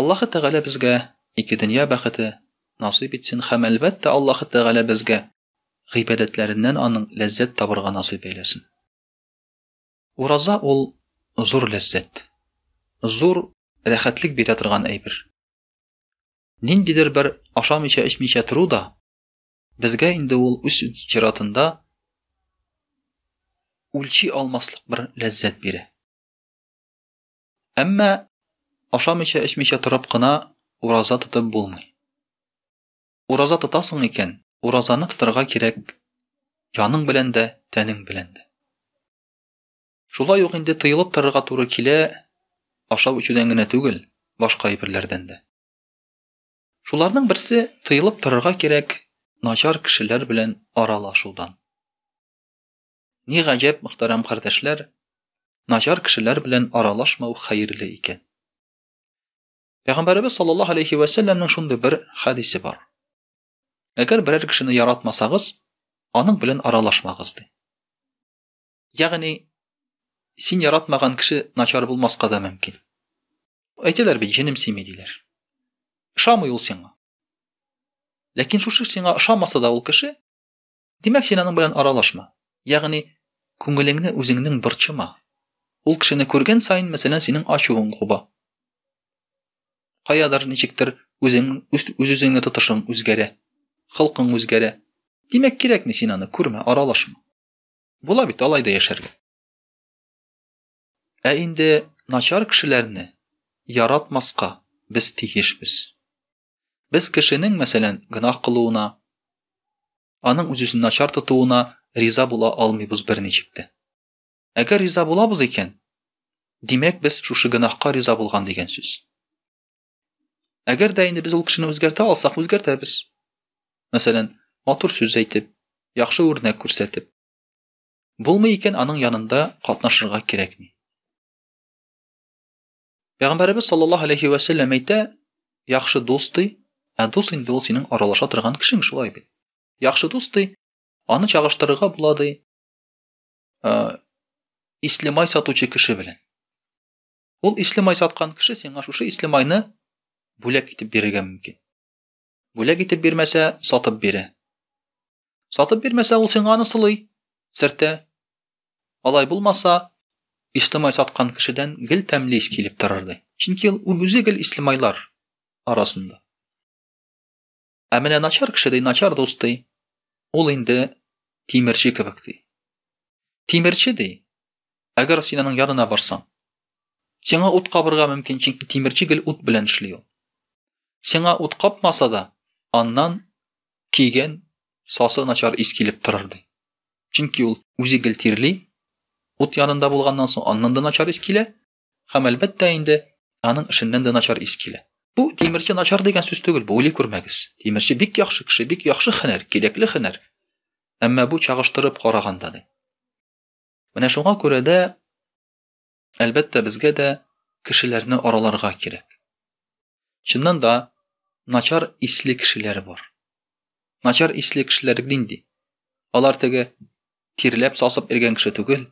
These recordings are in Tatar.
Аллаһы Тәгалә безгә ике дөнья бәхете насыйп итсен һәм әлбәттә Аллаһы Тәгалә безгә гыйбадәтләреннән аның ләззәт табырга насыйп әйләсен. Ураза ул зур ләззәт. Зур рәхәтлек бирә торган әйбер. Ниндидер бер ашамыйча эчмичә тору да безгә инде ул үз чиратында үлчи алмаслык бер ләззәт бирә. Әмма ашамыйча эчмичә торып кына ураза тотып булмый. Ураза тотасың икән, уразаны тотарга кирәк яның белән дә, тәнең белән дә. Шулай ук инде тыелып торырга туры килә, ашау эчүдән генә түгел, башка әйберләрдән дә. Шуларның берсе тыелып торырга кирәк начар кешеләр белән аралашудан. Ни гаҗәп, мөхтәрәм кардәшләр, начар кешеләр белән аралашмау хәерле икән. Пәйгамбәребез саллаллаһу алейхи ва сәлләмнең шундый бер хәдисе бар. Әгәр берәр кешене яратмасагыз, аның белән аралашмагыз ди. Ягъни син яратмаган кеше начар булмаска да мөмкин. Әйтәләр бит, җенем сими диләр. Ошамый ул сиңа. Ләкин шушы сиңа ошамаса да ул кеше Димәк, син аның белән аралашма. Ягъни, күңелеңне үзеңнең борчыма. Ул кешене күргән саен, мәсәлән, синең ачуың куба. Каядыр ничектер үзең үз-үзеңне тотышың үзгәрә. Хылкың үзгәрә. Димәк, кирәкми син аны күрмә, аралашма. Була бит алай да яшәргә. Ә инде начар кешеләрне яратмаска без тиешбез. Без кешенең, мәсәлән, гөнаһ кылуына, аның үз-үзен начар тотуына риза була алмыйбыз берничек тә. Әгәр риза булабыз икән, димәк без шушы гөнаһка риза булган дигән сүз. Әгәр дә инде без ул кешене үзгәртә алсак, үзгәртәбез. Мәсәлән, матур сүз әйтеп, яхшы үрнәк күрсәтеп. Булмый икән, аның янында катнашырга кирәкми. Пәйгамбәребез саллаллаһу алейхи ва сәлләм әйтә, яхшы дус ди, ә дус инде ул синең аралаша торган кешең шулай бит. Яхшы дус ди, аны чагыштырырга була ди. Ә, ислемай сатучы кеше белән. Ул ислемай саткан кеше сиңа шушы ислемайны бүләк итеп бирергә мөмкин. Бүләк итеп бирмәсә, сатып бирә. Сатып бирмәсә, ул сиңа аны сылый, сертә. Алай булмаса, Ислемай саткан кешедән гел тәмле ис килеп торырды. Чөнки ул үзе гел Ислемайлар арасында. Ә менә начар кеше ди, начар дус ди. Ул инде тимерче кебек ди. Тимерче ди, Әгәр син аның янына барсаң, сиңа ут кабырга мөмкин, чөнки тимерче гел ут белән эшли ул. Сиңа ут капмаса да, аннан киген сасы начар ис килеп торыр ди. Чөнки ул үзе гел тирли, ут янында булганнан соң аннан да начар ис килә, һәм әлбәттә инде аның эшеннән дә начар ис килә. Бу тимерче начар дигән сүз түгел, бу уйлый күрмәгез. Тимерче бик яхшы кеше, бик яхшы хәнәр, кирәкле хәнәр. Әмма бу чагыштырып караганда ди. Менә шуңа күрә дә, әлбәттә, безгә дә кешеләрне араларга кирәк. Чыннан да, начар исле кешеләр бар. Начар исле кешеләр нинди? Алар теге тирләп сасып иргән кеше түгел,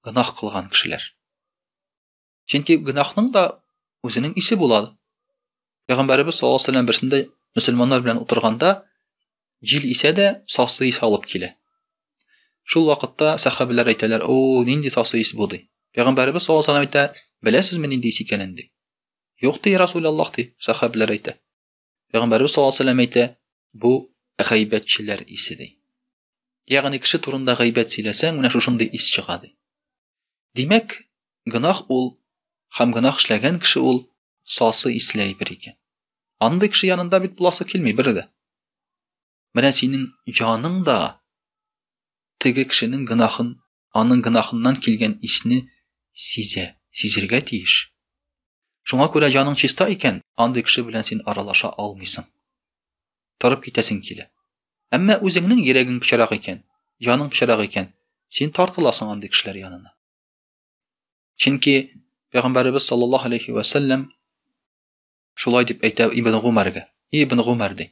гынах кылган кешеләр. Чөнки гөнаһның да үзенең исе була. Пәйгамбәрбез саллаллаһу алейһи ва сәлләм берсендә мөселманнар белән утырганда җил исә дә сасы ис алып килә. Шул вакытта сәхәбәләр әйтәләр, "О, нинди сасы ис бу?" ди. Пәйгамбәрбез саллаллаһу алейһи ва сәлләм әйтә, "Беләсезме нинди ис икәнен?" ди. "Юк", ди Расул Аллаһ ди, сәхәбәләр әйтә. Пәйгамбәрбез саллаллаһу алейһи әйтә, бу гайбәтчеләр исе ди. Ягъни кеше турында гайбәт сөйләсәң, менә шушындый ис чыга ди. Димәк, гынах ул һәм гынах эшләгән кеше ул сасы исле әйбер икән. Андый кеше янында бит буласы килми бер дә. Менә синең җаның да теге кешенең гынахын, аның гынахыннан килгән исне сизә, сизергә тиеш. Шуңа күрә җаның чиста икән, андый кеше белән син аралаша алмыйсың. Торып китәсең килә. Әмма үзеңнең йөрәгең пычрак икән, җаның пычрак икән, син тартыласың андый кешеләр янына. Чөнки Пәйгамбәребез саллаллаһу алейхи ва саллям шулай дип әйтә Ибн Гумәргә. Ибн Гумәр ди.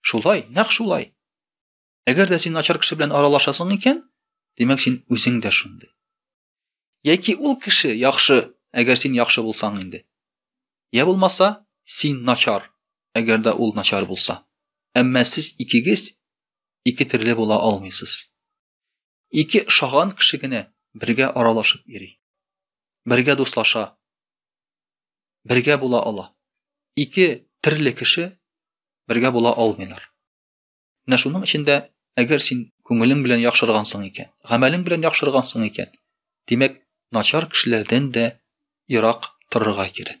Шулай, нәкъ шулай. Әгәр дә син начар кеше белән аралашасың икән, димәк син үзең дә шундый. Яки ул кеше яхшы, әгәр син яхшы булсаң инде. Я булмаса, син начар, әгәр дә ул начар булса. Әмма сез икегез ике төрле була алмыйсыз. Ике ошаган кеше генә бергә аралашып йөри. Бергә дуслаша. Бергә була ала. Ике терле кеше бергә була алмыйлар. Менә шуның өчен дә, әгәр син күңелең белән яхшыргансың икән, гамәлең белән яхшыргансың икән, димәк, начар кешеләрдән дә ерак торырга кирәк.